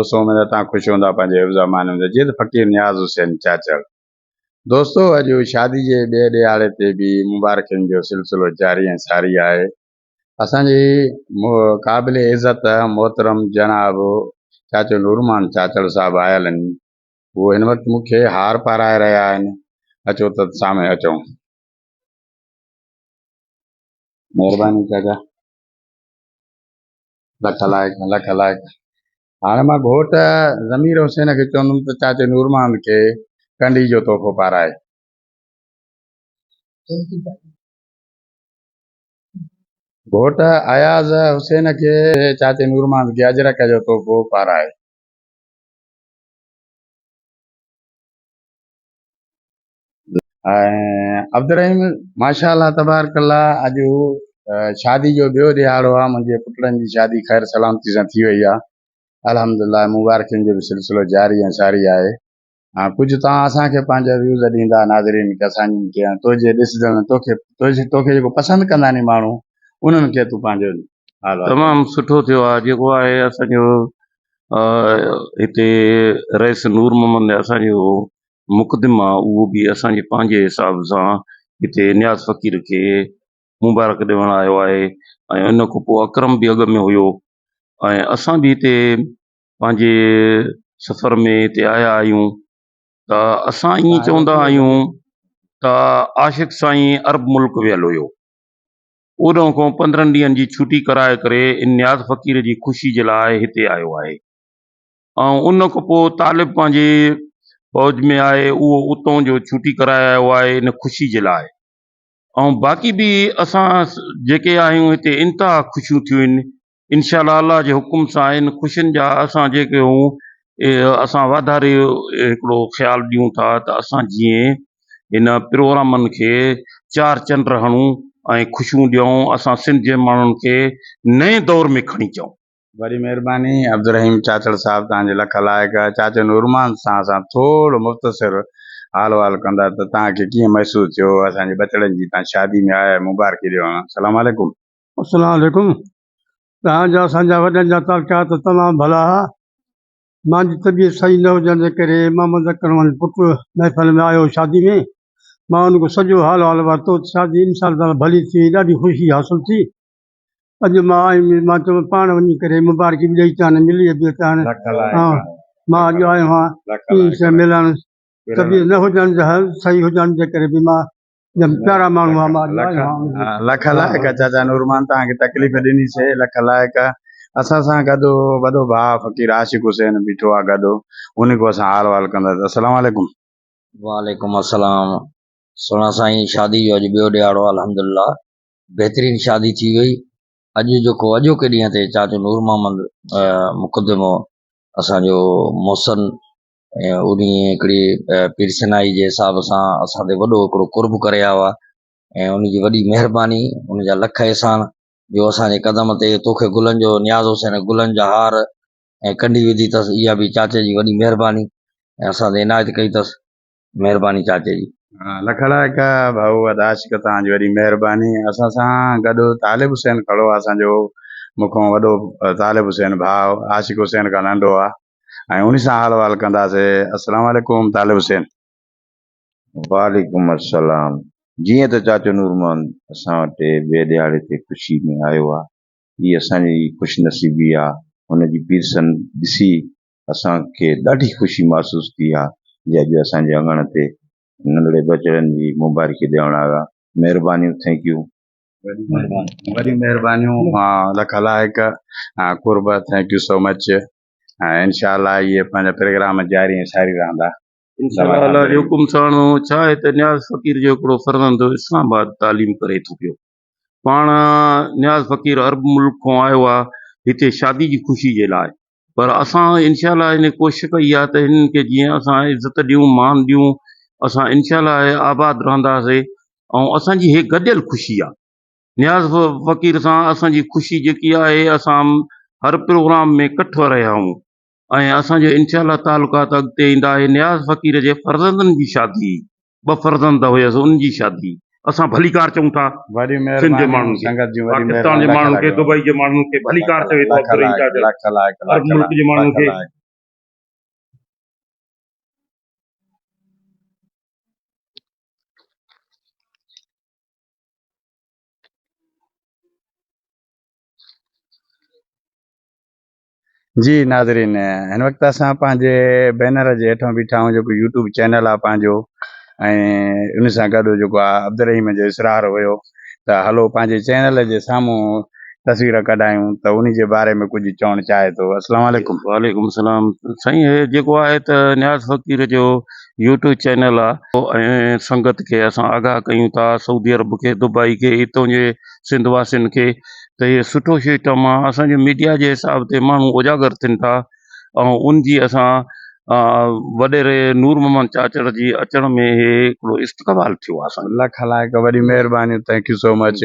دوستو اميد آهي توهان خوش هوندا پنهنجي حفظ امان ۾ هوندي جيئن ته فقير نياز حسين چاچڙ دوستو اڄ شادي جي ٻئي ڏهاڙي تي به مبارڪين جو سلسلو جاري ۽ ساري آهي اسان جي قابل عزت محترم جناب چاچو نورمان چاچڙ صاحب آيل آهن هو هن وقت مون کي هار پارائي رهيا آهن اچو ته سامهون اچون مهرباني چاچا لک لائق لک لائق هاڻي مان گهوٽ ضمير حسين کي چوندم ته چاچي نور محمد کي ڪنڊي جو تحفو پارائي. گهوٽ اياز حسين کي چاچي نور محمد کي اجرڪ جو تحفو پارائي. ۽ عبدالرحيم ماشاء الله تبارڪ الله اڄ شادي جو ٻيو ڏهاڙو آهي منهنجي پٽڙن جي شادي خير سلامتي سان ٿي وئي آهي الحمدلله مبارڪين جو به سلسلو جاري ۽ ساري آهي ها ڪجهه توهان اسان کي پنهنجا ويوز ڏيندا ناظرين کي اسان جن کي تنهنجي ڏسجڻ توکي توکي جيڪو پسند ڪندا ني ماڻهو انهن کي تون پنهنجو تمام سٺو ٿيو آهي جيڪو آهي اسان جو هتي رئيس نور محمد اسان جو مقدم آ اهو به اسان جي پنهنجي حساب سان هتي نياز فقير کي مبارڪ ڏيڻ آيو آهي ۽ ان کان پوء اڪرم به اڳ ۾ هيو ۽ اسان به هتي پنهنجي سفر ۾ هتي آيا آهيون ته اسان ائين چوندا آهيون ته عاشق سائين عرب ملڪ ويل هيو اوڏانهن کان پندرهن ڏينهن جي ڇوٽي ڪرائي ڪري ان نياز فقير جي خوشي جي لاء هتي آيو آهي. ۽ ان کان پوء طالب پنهنجي فوج ۾ آهي اهو اتان جو ڇوٽي ڪرائي آيو آهي ان خوشي جي لاء ۽ باقي به اسان جيڪي آهيون هتي انتها خوشيون ٿيون آهن انشاء الله الله جي حڪم سان ان خوشين جا اسان جيڪي هون اسان واڌاري هڪڙو خيال ڏيون ٿا ته اسان جيئن ان پروگرامن کي چار چنڊ هڻون ۽ خوشيون ڏيون اسان سنڌ جي ماڻهن کي نئين دور ۾ کڻي اچون وڏي مھرباني عبدالرحيم چاچڙ صاحب توھان جي لک لائق چاچو نورمان سان اسان ٿورو مختصر حال وحال ڪندا ته توھان کي ڪيئن محسوس ٿيو اسان جي ٻچڙن جي توھان شادي ۾ آيا آھيو مبارڪي ڏيو ھان سلام عليڪم. السلام عليڪم توھان جا اسان جا وڏن جا تعلقات تمام ڀلا ھئا مانجي طبيعت صحيح نه ھجڻ جي ڪري مان مذڪر رحمان جو پٽ محفل ۾ آيو ھو شادي ۾ مان ان کان سڄو حال وحال ورتو ته شادي انشاء الله تعالي ڀلي ٿي وئي ڏاڍي خوشي حاصل ٿي اڄ مان آيم ۽ مان چيو پاڻ وڃي ڪري مبارڪي به ڏئي اچان ۽ ملي به اچان. مان اڄ آيو آهيان ٽيئي سين ملڻ. طبيعت نه هجڻ جي هل صحيح هجڻ جي ڪري به مان جن پيارا ماڻهو آ مان اڄ آيو آهيان. لک لائق چاچا نورمان توهان کي تڪليف ڏني سي لک لائق اسان سان گڏ وڏو ڀاء فقير عاشق حسين بيٺو آ گڏ ان کان اسان حال وحال ڪنداسين السلام عليڪم. وعليڪم السلام سهڻا سائين شادي جو اڄ ٻيو ڏهاڙو آ الحمدالله بهترين شادي ٿي وئي اڄ جيڪو اڄوڪي ڏينهن تي چاچو نور محمد مقدمو اسانجو محسن انهي هڪڙي پير سنائي جي حساب سان اسان تي وڏو هڪڙو قرب ڪري آيو آهي ۽ ان جي وڏي مهرباني ان جا لک احسان جو اسان جي قدم تي توکي گلن جو نياز حسين گلن جا هار ۽ ڪنڊي وڌي اٿس اها به چاچي جي وڏي مهرباني ۽ اسان تي عنايت ڪئي اٿس مھرباني چاچي جي. لک لاک ڀائو ادا عاشق توهان جي وڏي مهرباني اسان سان گڏ طالب حسين کڙو آ اسان جو مون کان وڏو طالب حسين ڀاء عاشق حسين کان ننڊو آ ۽ انهي سان حال وحال ڪنداسي السلام عليڪم طالب حسين. وعليڪم السلام جيئن ته چاچو نور محمد اسان وٽ ٻئي ڏهاڙي تي خوشي ۾ آيو آ هي اسان جي خوش نصيبي آ هن جي پيرسن ڏسي اسان کي ڏاڍي خوشي محسوس ٿي آ جي اڄ اسان جي اڱڻ تي ننڍڙي ٻچڙن جي مبارڪي ڏيڻ آيو آ مھربانيون ٿينڪ يو. وڏيون مھربانيون لک علائق قرب ٿينڪ يو سو مچ ۽ انشاء الله اھي پنھنجا پرگرام جاري ۽ ساري رھندا. انشاء الله علي حڪم ساڻو ڇا ھي ته نياز فقير جو ھڪڙو فرزند اسلام آباد تعليم ڪري ٿو پيو پاڻ نياز فقير عرب ملڪ کان آيو آ هتي شادي جي خوشي جي لاء پر اسان انشاء الله هن ڪوشش ڪئي آ ته هنن کي جيئن اسان عزت ڏيون مان ڏيون اسان انشاء الله آباد رهنداسي ۽ اسان جي هي گڏيل خوشي آ نياز فقير سان اسان جي خوشي جيڪي آهي اسان هر پروگرام ۾ ڪٺ رهيا آهون ۽ اسان جا انشاء الله تعلقات اڳتي ايندا اهي نياز فقير جي فرزندن جي شادي ٻه فرزند هيس ان جي شادي اسان ڀليڪار چئون ٿا سنڌ جي ماڻهن کي پاڪستان جي ماڻهن کي دبئي جي ماڻهن کي ڀليڪار چوي ٿو عبدالرحيم چاچا عرب ملڪ جي ماڻهن کي جي ناظرين هن وقت اسان پنهنجي بينر جي هيٺان بيٺا آهيون جيڪو يوٽيوب چينل آهي پنهنجو ۽ ان سان گڏ جيڪو آهي عبدالرحيم جو اسرار هيو ته هلو پنهنجي چينل جي سامهون تصوير ڪڍايون ته ان جي باري ۾ ڪجهه چوڻ چاهي ٿو السلام عليڪم وعليڪم السلام سائين هي جيڪو آهي ته نياز فقير جو يوٽيوب چينل آهي ۽ سنگت کي اسان آگاهه ڪيون ٿا سعودي عرب کي دبئي کي هتون جي سنڌ واسين کي ته هي سٺو سسٽم آهي اسان جي ميڊيا جي حساب تي ماڻهو اجاگر ٿين ٿا ۽ ان جي اسان وڏيري نور محمد چاچڙ جي اچڻ ۾ هي هڪڙو استقبال ٿيو آهي اسان لک لائق وڏي مهرباني ٿينڪ يو سو مچ